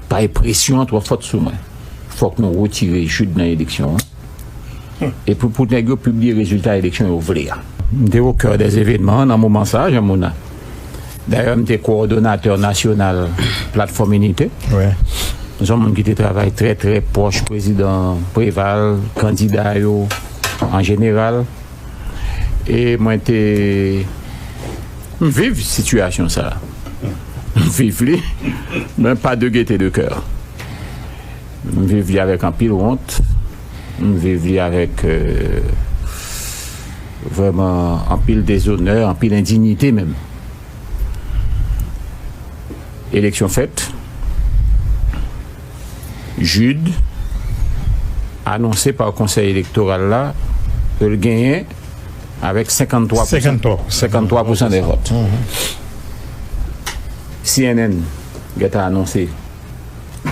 Bay presyon an twò fòt sou mwen. Fòk nou retire Jude nan eleksyon an. Epi pou nèg yo pibliye rezilta eleksyon yo vle a. M te o kè dè evenman an nan moman sa a, Jean Mona. Dayè m te kowòdonatè nasyonal Platfòm Inite. M se yon moun ki te travay trè trè pwòch prezidan Preval, kandida yo an jeneral. e mwen te m viv sitiyasyon sa m viv li men pa de gete de kè m viv li avèk anpil wont m viv li avèk vrèman anpil dezonè anpil endinyite menm eleksyon fèt Jude, anonse pa Konsèy Elektoral la ke l genyen avèk 53 pousan, 53 pousan dè vòt. Cnn gentan anonse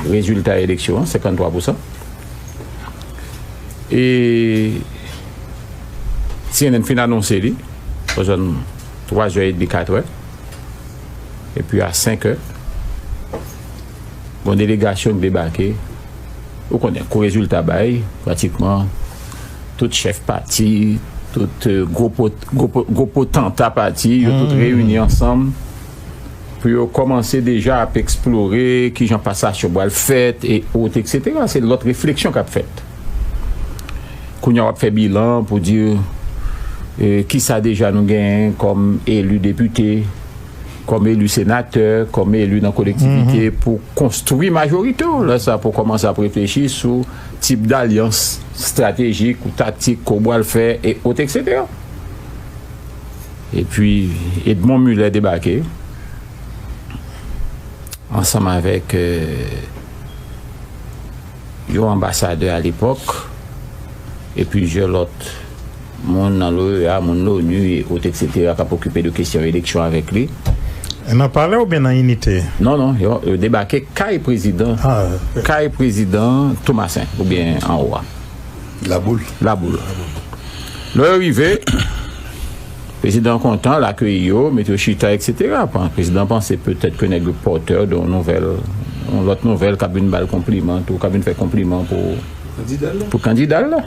rezilta eleksyon an, 53 pousan. E cnn fin anonse li o zòn 3 zè edmi, 4 è, epi a 5 è. Bon delegasyon k debake, ou konnen kou rezilta bay, pratikman tout chèf pati, tout gwo potanta pati yo tout reyini ansanm pou yo kòmanse deja ap eksplore kijan pasasyon pral fèt e o eksetera se lòt refleksyon kap fèt. Kounya wap fè bilan pou di kisa deja nou genyen kòm eli depite. kòm eli senatè, kòm eli nan kolektivite pou konstwi majorite w, lè sa pou w kòmanse ap reflechi sou tip dalyans estratejik ou taktik ke w bwal fè e ot eksetera. Epi Edmond Mulet debake ansanm avèk yon anbasadè alepòk e plizyè lòt. Moun nan l'OEA, moun l'ONU e autres etc kap okipe de kesyon eleksyon avèk li. Nan palè oubyen nan inite? Non non yo debake kay prezidan kay prezidan Thomassaint oubyen anwo a. Laboul. Laboul. Lè yo rive prezidan kontan l akeyi yo met yo chita etc prezidan panse petèt ke nèg yo porteur de yon nouvèl yon lòt nouvèl kap vin bal konpliman tou kap vin fè konpliman pou kandida l la.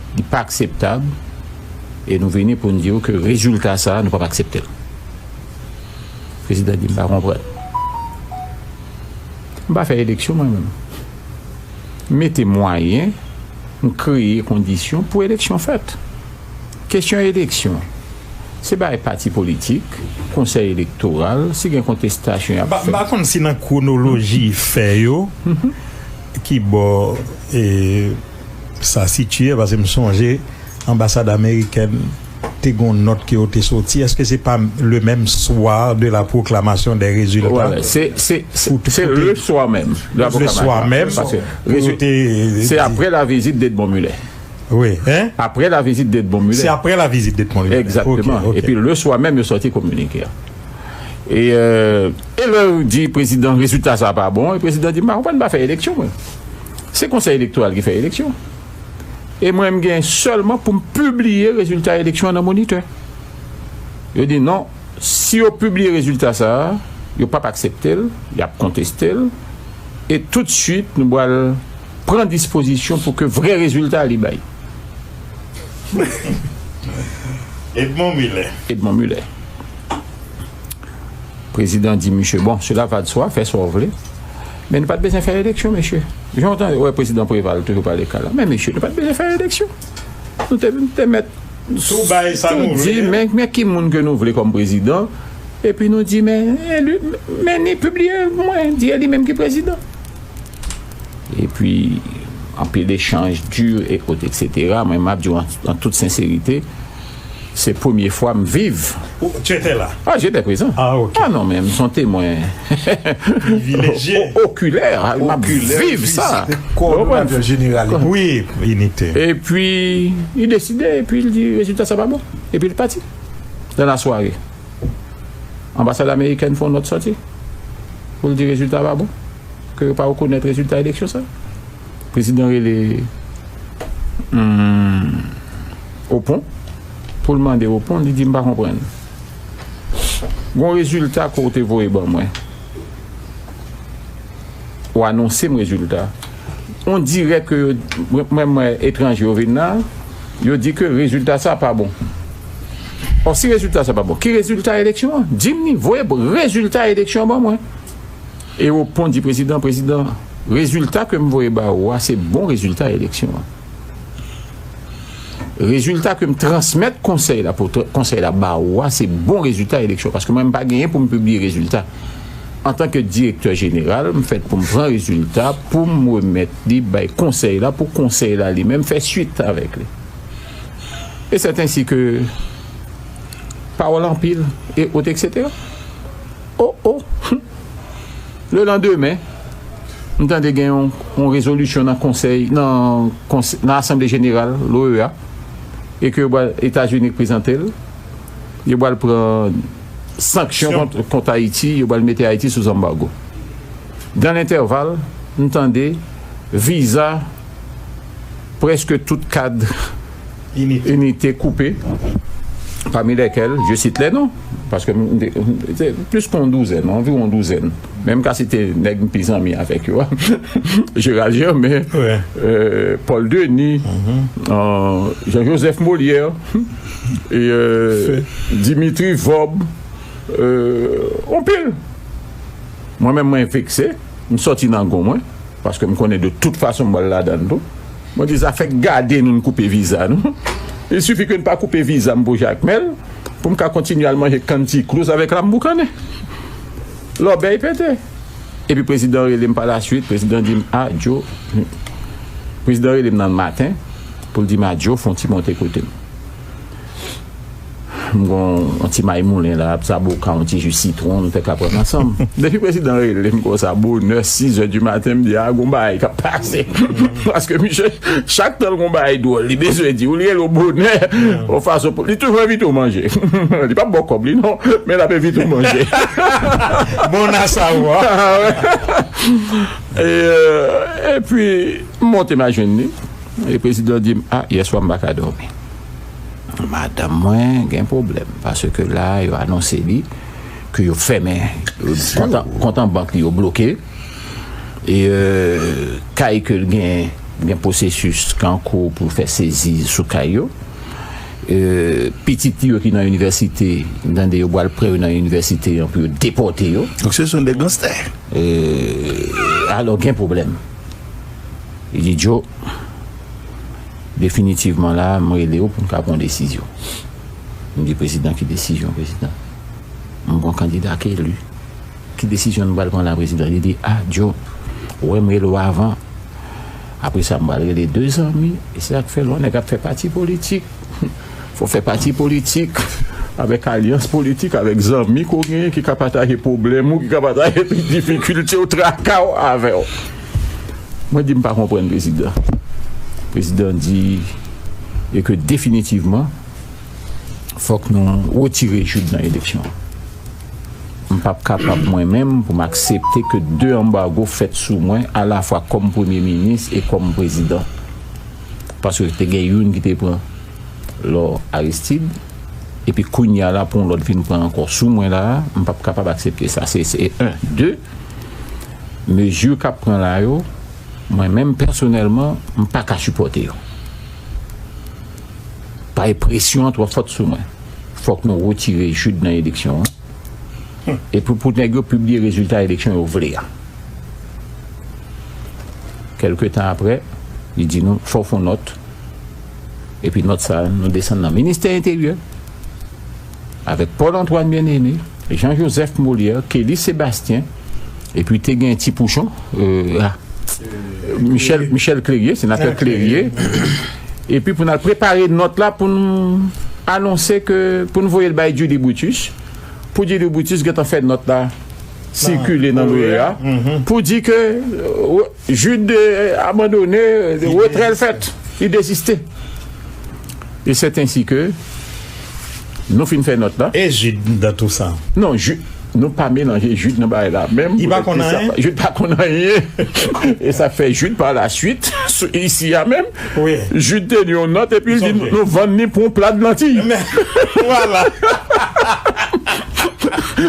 Li pa akseptab e nou vini pou n di w ke rezilta sa a nou p ap aksepte l. Prezidan di, M pa konprann. M pa fè eleksyon mwen menm. M mete mwayen, m kreye kondisyon pou eleksyon fèt. Kesyon eleksyon, se bagay pati politik, konsèy elektoral, si gen kontestasyon y ap fè. M pa konn si nan kwonoloji fè yo, ki bò. Sa sitye paske m sonje anbasad amerikèn te gon nòt ke yo te soti eske se pa le menm swa de la pwoklamasyon dè rezilta se le swa menm de la pwoklamasyon se apre la vizit de Edmond Mulet apre la vizit de Edmond Mulet se apre la vizit de Edmond Mulet epi le swa menm yo soti kominike a e lè yo di prezidan rezilta sa pa bon e prezidan di m pa konprann m pa fè eleksyon mwen. Se konsèy elektoral ki fè eleksyon. E mwen m gen sèlman pou m pibliye rezilta eleksyon nan monitè. Yo di non, si yo pibliye rezilta sa a, yo pap aksepte l, y ap konteste l, e tout swit nou pral pran dispozisyon pou ke vrè rezilta li bay. Edmond Mulet. Edmond Mulet. Prezidan di misye bon, sela va de swa, fè sa w vle. Men nou pat bezwen fè eleksyon mesye. Jan w ta wè prezidan Preval toujou pale ka la. Men mesye nou pat bezwen fè eleksyon. Nou te nou te mèt Tou bay sa nou vle a. Men men ki moun ke nou vle kòm prezidan epi nou di men eli men ni pibliye mwen di eli menm ki prezidan. Epi anpil echanj di ekot eksetera men map di w an tout senserite. Se premye fwa m viv. Ou, tu étais là? Ah, j'étais présent. Ah, ok. Ah non, men, m son temwen. Privileje. Okilè, m ap viv sa. Kowòdonatè jeneral li. Wi, inite. Epi, li deside, epi li di, rezilta sa pa bon. Epi li pati. Nan lasware, anbasad amerikèn fè yon nòt sòti pou l di rezilta pa bon, ke yo pa rekonèt rezilta eleksyon sa. Prezidan rele, humm. Opon, pou l mande Opon, li di, M pa konprann. Gon rezilta ke w te voye ban mwen. Ou anonse m rezilta. On dirè ke yo, mwen wè etranje yo vin la, yo di ke rezilta sa pa bon. Ò, si rezilta sa pa bon, ki rezilta eleksyon an? Di m ni, voye rezilta eleksyon an ban mwen. E Opon di Prezidan, Prezidan, rezilta ke m voye ba ou a, se bon rezilta eleksyon an. Rezilta ke m transmèt konsèy la pou konsèy la ba ou a se bon rezilta eleksyon paske mwen m pa genyen pou m pibliye rezilta. Antanke direktè jeneral, m fèt pou m pran rezilta pou m remèt li bay konsèy la pou konsèy la li menm fè suit avèk li. E sètensi ke pawòl anpil e ou eksetera. O o! Hum! Lelandemen. M tande gen yon rezolisyon nan konsèy nan nan asanble jeneral l'OEA e ke yo pral Etazini prezante l yo pral pran sanksyon kont Ayiti yo pral mete Ayiti sou zanbago dan lentèval m tande viza prèske tout kad inite koupe, pami lèkèl je site lè non, paske m te, se plis ke yon douzèn, anviwon yon douzèn, men m ka site nèg m pi zanmi avèk yo a, Gérald Germain, Paul Denis, Jean Joseph Molière, Dimitri Vorbe, anpil. Mwen menm mwen vekse. M sòti nan gou mwen, paske m konnen de tout fason m pral ladan l tou. Mwen di zafè gade nou n koupe viza nou. Il sifi ke n pa koupe viza m pou Jakmèl, pou m ka kontinye al manje kann tikrouz avèk lam boukannen. Lòbèy pete. Epi prezidan rele m pa lasuit, prezidan di m, a Djo, prezidan rele m nan maten pou l di m a Djo fon ti monte kote m. M gen yon ti may moulen la, sa bo ka yon ti ji sitwon m fè kapòt m ansanm. Depi prezidan rele m konsa bonè sizè di maten m di a gon bagay k ap pase paske misye chak tan l gen yon bagay dwòl li bezwen di w li rele w bonè yon fason pou li toujou envite w manje li p ap ba w kòb li non men l ap envite w manje Bon a savwa Epi m monte m al jwenn li e prezidan di m a yèswa m pa ka dòmi. Madanm mwen gen pwoblèm paske la yo anonse li ke yo fèmen kont an bank li yo bloke e kay ke l gen gen pwosesis ki an kou pou fè sezi sou kay yo e pitit li yo ki nan inivèsite m tande yo bwal pre yo nan inivèsite an pou yo depòte yo. Donk se son de ganstè. E alò gen pwoblèm. Li di Djo. Definitivman la a, m rele w pou n ka pran yon desizyon. M di prezidan ki desizyon prezidan? M gon kandida k eli. Ki desizyon nou pral pran la a prezidan? Li di a Diop, ou wè m rele w avan. Apre sa m pral rele de zanmi. E se sa k fè lè yon nèg ap fè pati politik, fò w fè pati politik avèk alyans politik, avèk zanmi ke w genyen ki ka pataje pwoblèm ou, ki ka pataje difikilte w, traka w avè w. Mwen di m pa konprann prezidan. Prezidan di e ke definitivman fòk nou retire Jude nan eleksyon. M p ap kapab mwen menm pou m aksepte ke 2 anbago fèt sou mwen alafwa kòm premye minis e kòm prezidan. Paske te gen youn ki te pran lò Aristide epi kounya la pou yon lòt vin pran ankò sou mwen la a, m p ap kapab aksepte sa. Se 1. 2. Mezi k ap pran la yo, mwen menm pèsonèlman, m pa ka sipòte yo. Pae presyon an twò fòt sou mwen. Fòk nou retire Jude nan eleksyon an. Epi pou nèg yo pibliye rezilta eleksyon yo vle a. Kèlke tan aprè, li di nou, fòk fon nòt. Epi nòt sa a, nou desann nan Ministè Enteryè. avèk Paul Antoine Bien-Aimé, Jean Joseph Molière, Kelly Sébastien, epi te gen Ti Pouchon, Michel Clérier, Senatè Clérier, epi pou n al prepare nòt la pou n anonse ke pou n voye l bay Julie Brutus, pou Julie Brutus gentan fè nòt la sikile nan l'OEA, pou di ke. Jude abandone, retrè l fèt, li deziste. E sèt ensi ke nou fin fè nòt la. E Jude nan tou sa? Non, Jude, nou pa melanje Jude nan bagay la menm. Li pa konn anyen? Jude pa konn anyen. E sa fè Jude pa la suit, isi a menm, Jude te li yon nòt epi l di nou vann li pou yon pla de lantiy. Men, vwala!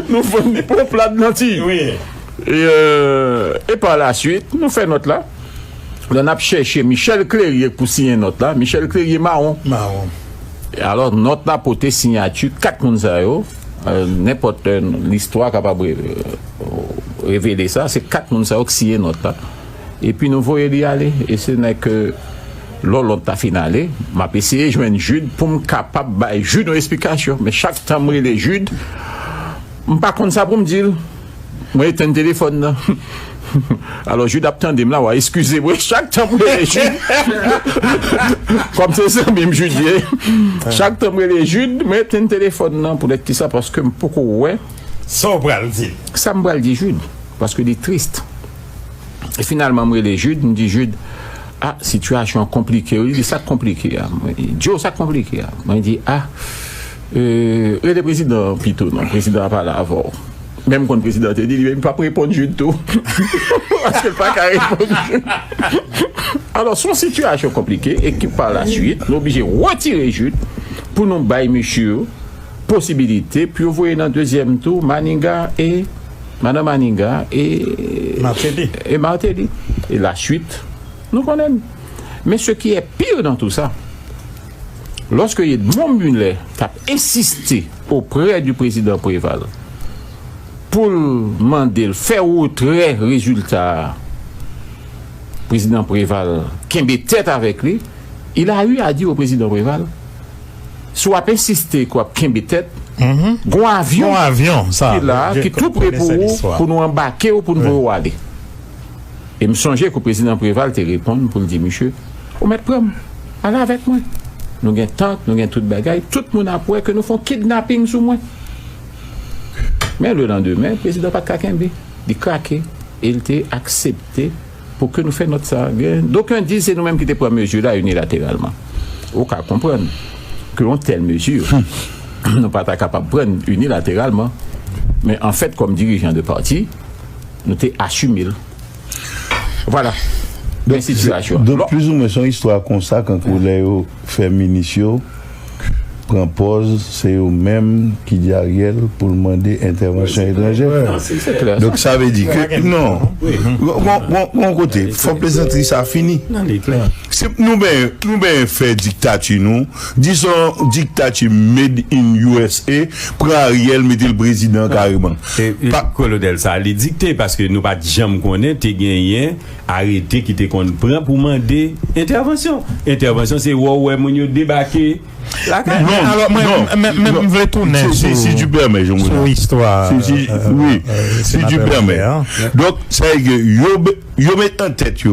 Nou vann li pou yon pla de lantiy. E par la suite, nou fè nòt la. Lè nap chèche Michel Clerier pou siyen nòt la, Michel Clerier mawon. Mawon. Alò nòt la pote siyati 4 moun sa yo, nenpòt listwa kapab revele sa, se 4 moun sa yo ki siyen nòt la. E pi nou voye li ale. E se lè ke Lòlòt ta fin ale, map eseye jwenn Jude poum kapab bay Jude yon esplikasyon. Men chak tan m rele Jude, m pa konn sa poum dil. Mwen etenn telefòn nan. Alò Jude ap tande m la, wa eskize mwen chak tan m rele Jude. Kòm se zanmi m Jude ye, chak tan m rele Jude, mwen etenn telefòn nan. Poutèt ki sa? Paske m poko wè. Sa w pral di l. Sa m pral di Jude. Paske li triste. E finalman m rele Jude, m di Jude, A, sitiyasyon an konplike wi. Li di, sa k konplike a? Mwen di, Joe, sa k konplike a? Mwen di, A. Rele prezidan an pito non prezidan an pale avèw menm konn prezidan te di li menm pap reponn Jude tou paskel paka reponn Jude alò son sitiyasyon konplike e ki pa la suit nou oblije retire Jude pou nou bay mesye yo posibilite pou yo voye nan dezyèm tou Maniga e madan Maniga e Martelly e la suit nou konnenn men se ki e pire nan tou sa. loske Edmond Mulet tap ensiste oprè di prezidan Preval pou l mande l fè retrè rezilta a, prezidan Preval kenbe tèt avèk li, il a eu a dire au prezidan Preval, si w ap ensiste ke w ap kenbe tèt, gon avyon ki la ki tou pre pou ou pou nou anbake w pou n voye w ale. E m sonje kou Prezidan Preval te reponn pou l di miche, Ou mèt pran m, ale avèk mwen. Nou gen tank, nou gen tout bagay, tout moun ap wè ke nou fon kidnaping sou mwen. Men le landemen, Prezidan pa t ka kenbe. Li krake e l te aksepte pou ke nou fè nòt sa. Gen doken di se nou menm ki te pran mezi la inilateralman. Ou ka konprann ke yon tèl mezi, nou pa ta kapab pran inilateralman. Men anfèt kòm dirijan de pati, Nou te asime l. Vwala. Men sitiyasyon an. Donk plis ou mwen se yon istwa konsa kankou lè yo fè minis yo pran pòz se yo menm ki di Ariel pou l mande entèvansyon etranjè. Se klè sa. Donk sa vle di ke non. Gon yon kote fòk plezantri sa fini. Nan li klè. Se pou nou benyen fè diktati nou. Dison diktati made in usa pran ariel metel prezidan kareman pa. Kolonel sa li dikte paske nou pat janm konnen te genyen arete ki te konn pran pou mande entèvansyon entèvansyon se wè w wè moun yo debake lakay li. Men alò mwen mwen m vle tounen sou si tu pèmè jan mwen istwa wi si tu pèmè donk sa vle di yo yo met an tèt yo.